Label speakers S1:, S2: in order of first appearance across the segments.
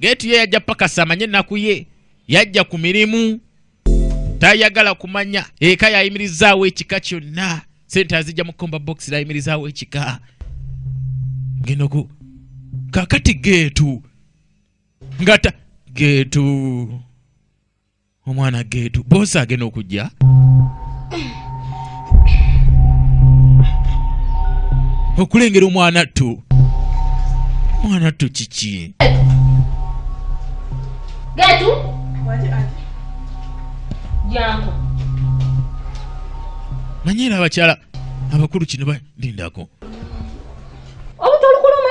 S1: Geeti ye yajja pakasa amanye ennaku ye, yajja ku mirimu, tayagala kumanya. Eka yayimirizaawo ekika kyonna, sente azijja mu komba bokisi, yayimirizaawo ekika. Ngeno ku kakati geetu ngata geetu omwana geetu boosi agenda okujja okulengera omwana ttu omwana ttu kiki
S2: geetu jangu
S1: manye era abakyala abakulu kino balindako
S2: obutolukuluma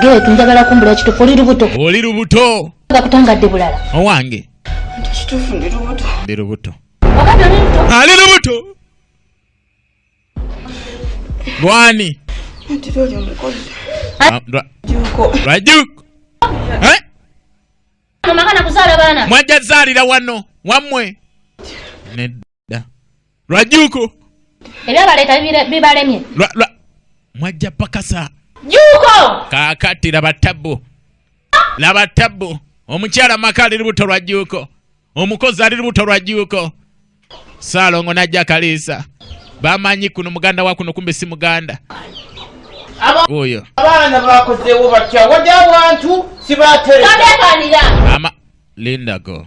S1: Getu
S2: njagala kumbula kitufu oli lubuto. Oli lubuto. Nga kutangadde bulala. Owange.
S1: Nti
S3: kitufu ndi lubuto. Ndi lubuto. Wakati oli lubuto.
S2: Ali lubuto.
S1: Gwani. Nti loli
S3: omukozi. Ah,
S1: Juko.
S2: Rajuko. Eh? Mama kana kuzala bana. Mwaja zalira wano.
S1: Wamwe. Ned. da lwajuuko ebyabaleeta
S2: bibalemye
S1: mwajja pakasa juuko
S2: kaakati laba
S1: tabbu laba tabbu omukyala maka ali lubuto lwa juuko omukozi ali lubuto lwa juuko saalongo najja kaliisa bamanyi kuno muganda wa kuno kumbe si muganda oyo abaana
S3: bakozeewo batya wadde abantu sibateeamalindago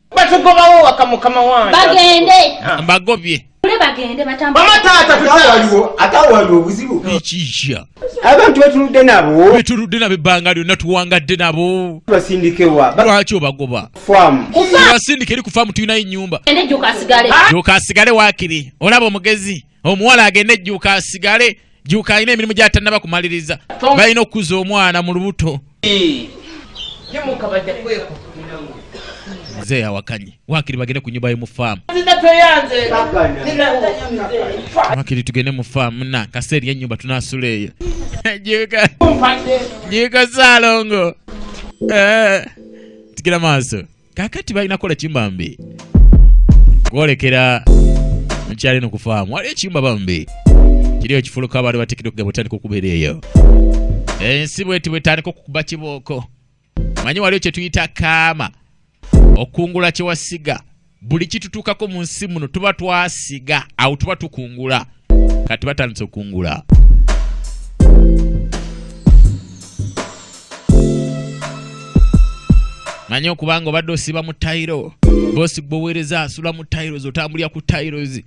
S2: batugobawo waka mukama wange bagende ah. mbagobye
S3: atawaliwo obuzibu
S4: ekija
S1: abantu betunudde
S4: nabo betunudde nabo ebbanga
S1: lyonna tuwangadde nabo basindikewa
S4: lwaki obagoba basindike eri ku
S1: faamu tulinayo enyumba
S2: joka asigale
S1: wakiri olaba omugezi omuwala agende ejjuuka asigale juuka alina emirimu gyatanaba kumaliriza balina okukuza omwana mu lubuto
S3: mzee
S1: awakanye wakiri bagende ku nyumba yomu faamu wakiri tugende mu faamu na kaseeri yenyumba tunasula eyo juuka saalongo eh, tikira maaso kakati balina kola kimbambi kwolekera mukyali no kufaamu waliyo kimba bambi kiri ekifuluka abaali batikidde okugamba otandika okubeera eyo ensi bweti bwetandika okukuba kibooko manyi waliyo kyetuyita kaama okukungula kyewasiga buli kitutuukako mu nsi muno tuba twasiga awo tuba tukungula kati batandise okungula manyi okubanga obadde osiba mu tayiro bosi gbowereza asula mu tiles otambulira ku tiles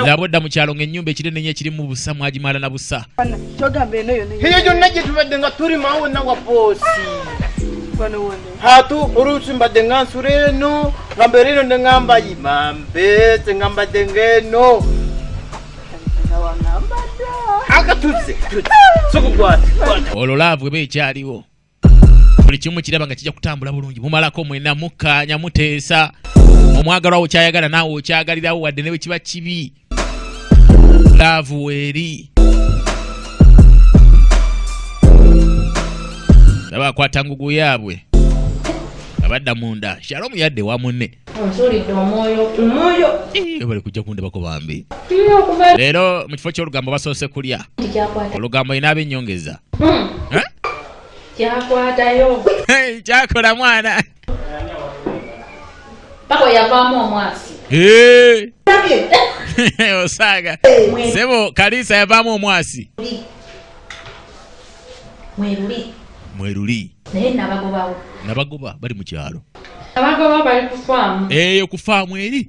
S1: laba odda mu kyalo ng'ennyumba ekire nenye ekirimu busa mwagimala na busa
S3: eyo gyonna gye tubadde nga tuli
S1: mawo
S3: nawa bosi hatu oluusi mbadde nga nsula eno nga mbeera eno ne ŋamba yimambe te nga mbadde ng'eno akatuzze sokukwata olwo laavu
S1: eba ekyaliwo buli kimu kiraba nga kijja kutambula bulungi mumalako mwena mukkaanya muteesa omwagalwawo kyayagala naawe okyagalirawo wadde ne bwe kiba kibi laavu weeri laba akwata ngugu yaabwe abadda munda shalomu yadde wa munne bali kujja kundabako bambi leero mu kifo ky'olugambo basoose kulya olugambo yina abenyongeza hmm.
S2: kyakwatayo kyakola
S1: mwana
S2: paka yavaamu omwasi
S1: osaaga sebo kaliisa yavaamu omwasi mweruli mweruli naye nabagobawo
S2: nabagoba bali mu
S1: kyalo nabagoba bali
S2: ku faamu eyo ku faamu
S1: eri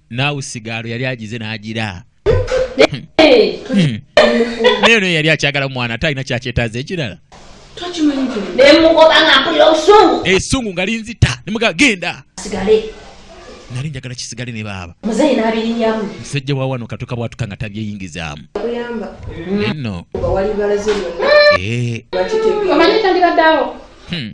S1: naawe sigaalo yali agize n'agira hmm. naye naye yali akyagala mwana ate alina kyakyetaaza ekirala
S2: esungu eh, nga linzita
S1: nemuga genda
S2: nali
S1: njagala kisigale ne baaba
S2: musajja wa wano katuka
S1: bwatuka nga tabyeyingizaamu
S3: no eh. hmm.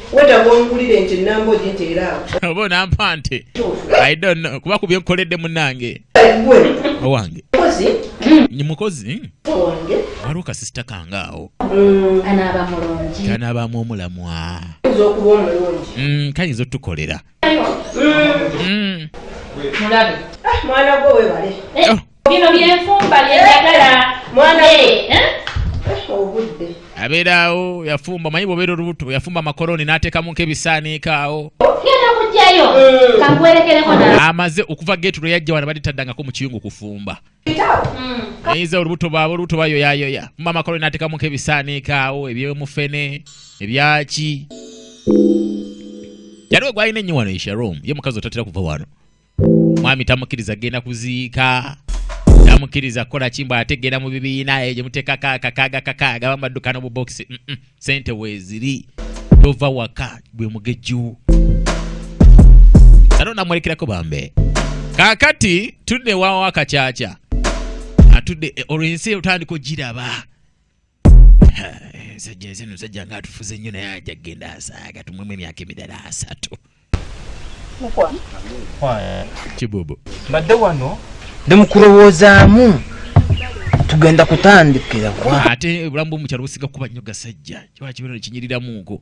S3: wetaaga ongulire nti ennamba ogi nti era
S1: awo oba onampa nti i don't know kuba ku byenkoledde munange
S3: owange
S1: mukozi
S3: hmm. mukozi
S1: owange
S3: waliwo kasisita
S1: kange awo hmm, anaaba
S2: mulungi kanaabamu omulamwa
S1: kayinza okuba
S3: omulungi hmm, kayinza otukolera
S2: mulabe ah, mwana gwe
S3: webale eh. oh. bino
S2: byenfumba byeyagala mwana
S3: obudde abeeraawo
S1: yafumba manyi bwobeera olubuto yafumba amakoloni n'ateekamu nkebisaaniika awo genda kujjayo
S2: mm. kakuwerekereko amaze okuva
S1: geetu lwe yajja wana baditaddangako mu kiyungu kufumba mm. ayiza olubuto baaba olubuto bayoyayoya muma amakoloni n'ateekamu nkebisaaniika awo ebyomufene ebyaki yaliwo gwalina ennyo wano esharom ye mukazi otatera kuva wano mwami tamukiriza genda kuziika tamukiriza kola kimbo ate genda mu bibiina eyo gyemutekako akakaaga kakaaga bamadduka nobubokisi mm -mm. sente weziri tova waka gwe mugejju sano namwerekerako bambe kakati tudde wawo akakyakya atudde eh, olwo ensi otandika ogiraba ensajja ensi eno sajja nga atufuze nnyo naye ajja kugenda asaaga tumwemu emyaka emirala asatu kibubu mbadde wano
S3: ndi mukulowoozaamu tugenda kutandikira kwa ate obulamu bwomukyalo
S1: businga kuba nnyo gasajja kiba kibeera nekinyiriramuko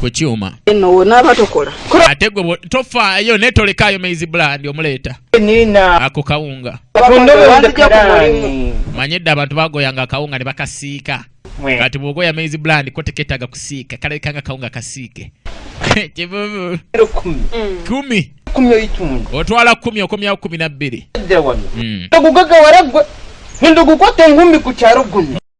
S3: ku kyuma
S5: ate gwe
S1: tofaayo naye tolekaayo maizi bulandi omuleeta ako
S3: kawunga
S1: manye dda abantu bagoyanga akawunga ne bakasiika kati bwogoya maizi bulandi ko teketaaga kusiika kalabika nga kawunga kasiike kivuvu kumi
S3: mm. otwala kumi okomyawo
S1: kumi nabbiri mm.
S3: ogugagawala gwe ndugukwata engumbi ku kyalo guno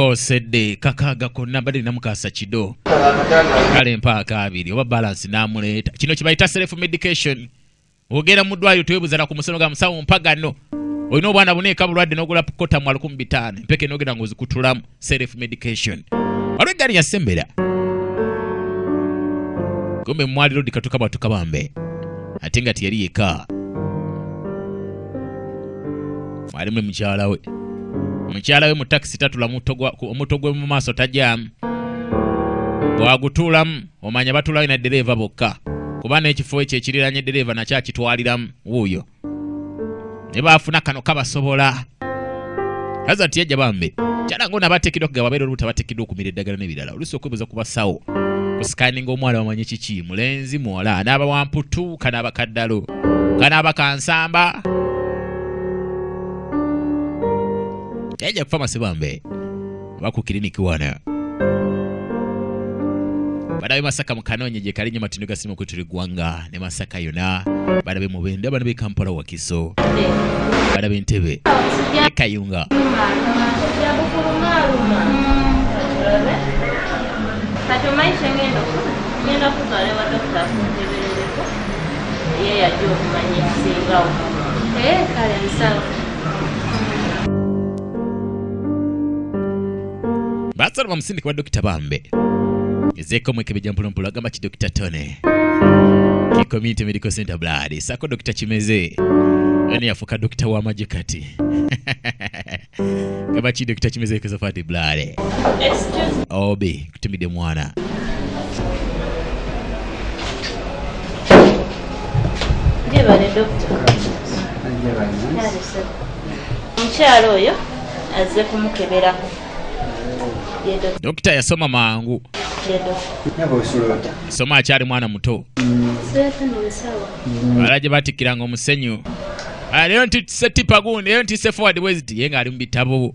S1: osedde kakaaga konna mbadde nina mukaasa kido kale mpaaka abiri oba balansi n'amuleeta kino kibayita self medication ogenda mu ddwaliro tewebuzala ku musono ga musawo mpagano olina obwana buneeka bulwadde n'ogula kotamu alukumu bitaano empeke n'ogenda ng'ozikutulamu self medication waliwo eggaali yasembera kumbe mwali lodi katuka bwatuka bambe ate nga teyali yeka mwali muli mukyala we mukyala we mu takisi tatula omuto gwe mu maaso tajamu bwagutuulamu omanya batulayo na dereeva bokka kuba n'ekifo ekyo ekiriranye dereeva nakyo akitwaliramu wuuyo ne baafuna kano kabasobola kaza nti yajja bambi kyala ng'ono abateekeddwa kugaba babeera olubuto abateekeddwa okumira eddagala n'ebirala oluusi okwebuuza ku basawo kusikaninga omwana bamanye kiki mulenzi muwala anaaba wamputu kanaaba kaddalo kanaaba kansamba yajja kufa masibambe oba ku kiriniki wana banabe masaka mukanonye gye kali nyo matindo gasimu kutuli gwanga ne masaka yona banabe mubende abana be kampala wakiso banabe ntebe ekayunga kati omanyi kyengenda ngenda kutwala ewa
S2: dokita akunteberereko ye yajja okumanya ekisingawo kale nsawo
S1: baasala bamusindika wa dokita bambe ezeeko omwekebejja mpolampola agamba ki dokita tone ki community medical center blood saako dokita kimeze yani yafuuka dokita w'amagye kati gamba ki dokita kimeze ekezofati blood Excuse obi Timide
S2: mwana. Jebale dokita. Omukyala oyo azze kumukeberako.
S1: Dokita yasoma mangu. Soma akyali mwana muto. Wala gye batikkiranga omusenyu. Ah, leero ntise tipa gundi, leero ntise forward weziti, ye ng'ali mu bitabo.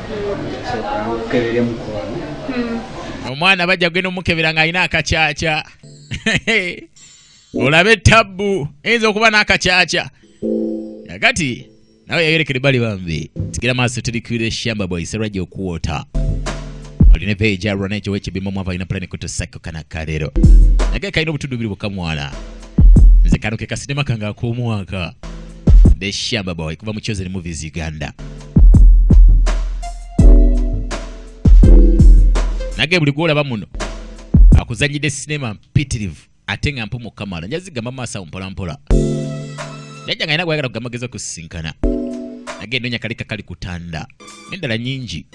S1: omwana bajja kugenda omukebera nga alina akakyakya olabe tabbu eyinza okuba n'akakyakya agati nawe yayerekere bali bambi tigira maaso tuli kwire shamba boy serajja okuwota olina epeeji alwa nekyo wekibimamu ava alina pulani kutusako kana kalero nage kalina obutundu biri bukamwana nze kano ke kasinema kange ak'omwaka the shaba boy kuva mu chosen movies uganda nage buli gwolaba muno akuzanyidde sinema mpitirivu ate nga mpumu kamala njazigamba maaso awo mpolampola jajja nga alina gwayagala kugamagezi okusisinkana nage nonya kalika kali kutanda nendala nyingi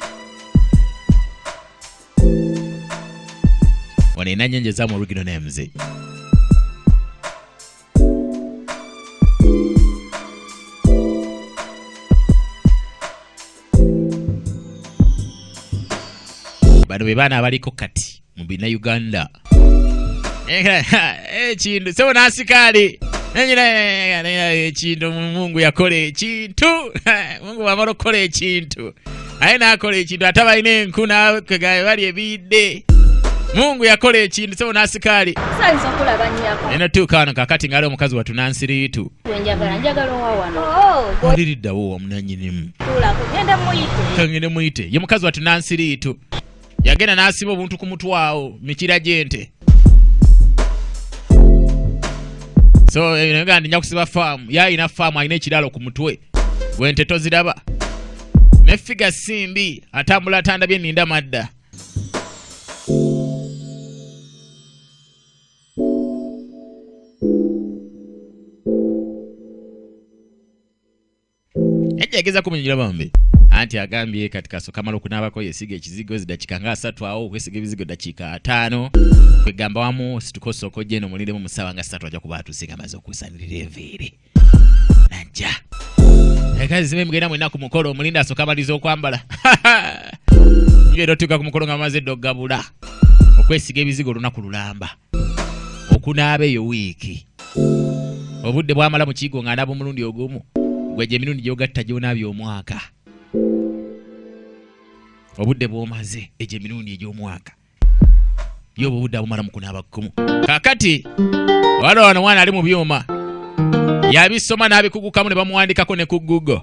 S1: wano enanyanja zamu original names bano be baana abaliko kati mu bina uganda ekintu eh, eh, sebo nasikaali ekintu mungu yakola ekintu mungu wamala okukola ekintu aye n'akola ekintu ate balina enku nakegaye bali ebiyidde mungu yakola ekintu sebo nasikaali
S2: eno tuuka wano kakati
S1: ngaali omukazi watu nansiriitu
S2: oliriddawo
S1: wamunanyinimu
S2: kangende muyite ye
S1: mukazi watu nansiriitu yagenda n'asiba obuntu ku mutwawo mikira gyente so eh, nga ndinya kusiba faamu yalina faamu alina ekiralo ku mutwe gwente toziraba ne figa simbi atambula atandabye ninda madda Hajja ageza kumunyira bambi. Anti agambye kati kaso kamalo kunabako yesiga ekizigo zidakika nga asatu awo okwesiga ebizigo dakika ataano kwegamba wamu situkosa okojja eno muliremu mu ssaawa nga ssatu ajja kuba atuuse nga maze okusanirira enviiri najja ekazi zibe mugenda mwena ku mukolo omulinda asoka amaliza okwambala nyo era otuuka ku mukolo nga amaze edda okugabula okwesiga ebizigo olunaku lulamba okunaaba eyo wiiki obudde bwamala mu kiigo ng'anaaba omulundi ogumu gwe gye mirundi gyogatta gyonaabya omwaka obudde bwomaze egyo emirundi egy'omwaka yo obwo obudde abumala mu kunaaba kkumu kakati wala wano mwana ali mu byuma yabisoma n'abikugukamu ne bamuwandikako ne ku google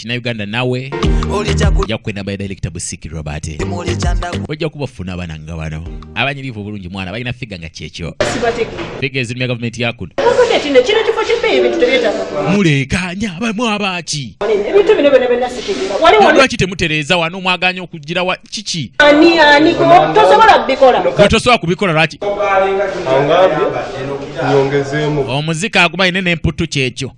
S1: kina uganda nawe ojja kukwenamba era kitabu sikirwa bate ojja kubafuna abana nga bano abanyirivu obulungi mwana balina figa nga kyekyo figa ezirumya gavumenti yakuno
S5: mulekanya
S1: bamu abaki
S5: lwaki temutereeza
S1: wano mwaganya okugira wa kiki
S5: tosobola kubikola lwaki
S6: omuzika agumaine
S1: nemputu kyekyo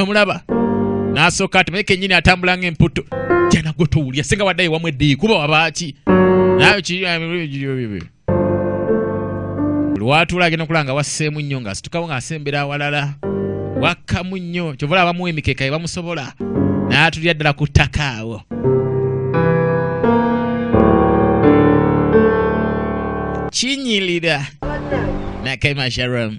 S1: omulaba n'asooka ati maye kennyini atambula ng'emputto jana gwe towulya singa waddayo wamu eddiyi kuba wabaaki nayo kiri lwatuula agenda okulaba nga wasseemu nnyo ng'asitukawo ng'asembera awalala wakkamu nnyo kyova olaba bamuwa emikeeka ye bamusobola n'atulira ddala ku ttaka awo kinyirira nakaima sharom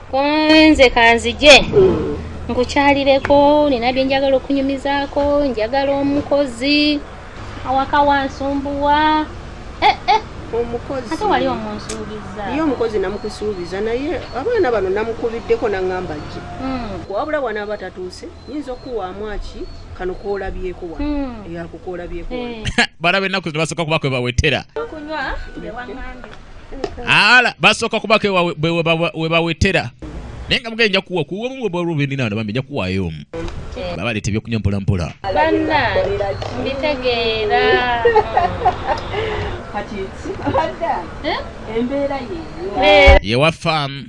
S2: kunze kanzije nkukyalireko nina byenjagala okunyumizaako njagala omukozi awaka wansumbuwa eh, eh.
S5: omukozi ate wali
S2: omunsuubiza ye omukozi
S5: namukusuubiza naye abaana bano namukubiddeko naŋamba gye hmm. wabula wanaaba tatuuse nyinza okukuwaamu aki kano koolabyeko wa hmm. eyakukoolabyeko eh. balabe ennaku zino basooka
S1: kuba kwe bawetera
S2: ala
S1: basooka kubaka webawetera naye nga mugenda kuwa kuwomu bwolubininaano bambi nja kuwaayo omu baba leeta ebyokunywa mpolampola banna
S2: mbitegeera
S5: eh? ye wa faamu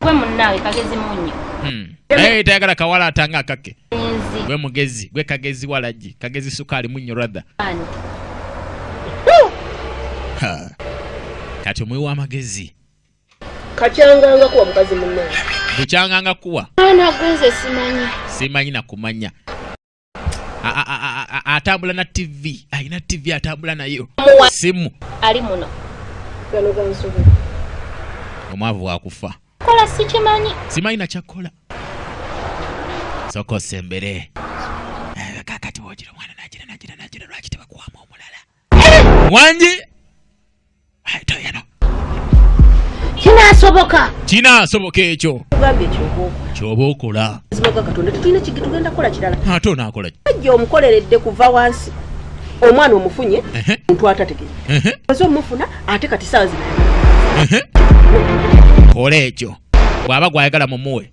S1: Gwe
S2: munnawe kagezi munyo. Hmm. Naye
S1: tayagala kawala atanga akake. Gwe mugezi, gwe kagezi walagi, kagezi sukali munyo rather. Ha. Kati omwe wa magezi.
S5: Kachanganga kuwa mukazi munnawe. Kuchanganga
S1: kuwa. Ana gwenze
S2: simanyi. Simanyi na
S1: kumanya. atambula na tv alina tv atambula nayo simu ali
S5: muno
S1: omwavu wakufa kola sikimanyi
S2: simanyi
S1: nakyakukola soka osembere eh, kakati wogira omwana nagira nagira nagira lwaki tebakuwamu omulala wangi kinasoboka kinasoboka ekyo
S5: kyoba
S1: okola ate
S5: onakola ajja
S1: omukoleredde
S5: kuva wansi omwana omufunye muntu atategere oze omufuna ate kati saawa zina
S1: kola ekyo bw'aba gwayagala mumuwe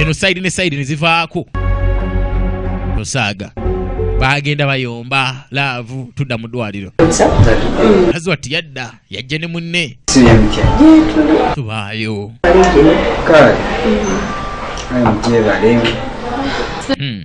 S1: eno sayidi ne sayidi ne zivaako nosaaga baagenda bayomba laavu tudda mu ddwaliro azi wati yadda yajja ne munne tubaayo Hmm.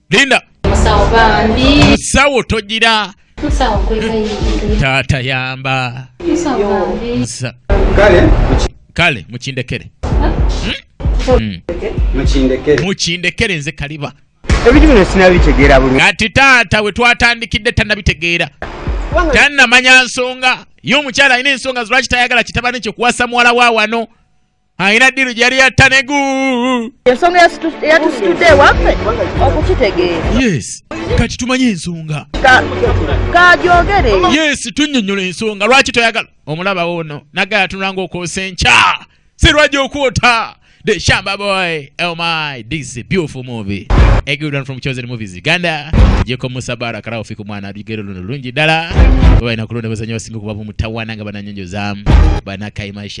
S1: Linda. Musawo bambi. Musawo tojira. Musawo kwekayi. Tata yamba. Musawo bambi. Musa. Kale. Kale mukindekere. Hmm? Hmm. Mukindekere. Mukindekere nze kaliba. Ebintu bino
S4: sinabitegeera bulungi. Kati taata we
S1: twatandikidde tanabitegeera. Tanamanya nsonga. Yo omukyala alina ensonga lwaki tayagala kitabani kye kuwasa muwala wa wano. alina ddiru gyali yatta ne gu ensonga
S5: eyatusitudde ewaffe okukitegeera yes
S1: kati tumanyi ensonga
S5: kagyogere yes
S1: tunnyonnyola ensonga lwaki toyagala omulaba ono naga yatunulanga okwosa enkya sirwaja okwota the shamba boy oh my this is a beautiful movie a good one from chosen movies uganda jeko musa bara karao fiku mwana lugero luno lungi dala baina kulonda bazanyo basinga kubabu mutawana nga bananyonjo zamu banakaimaisha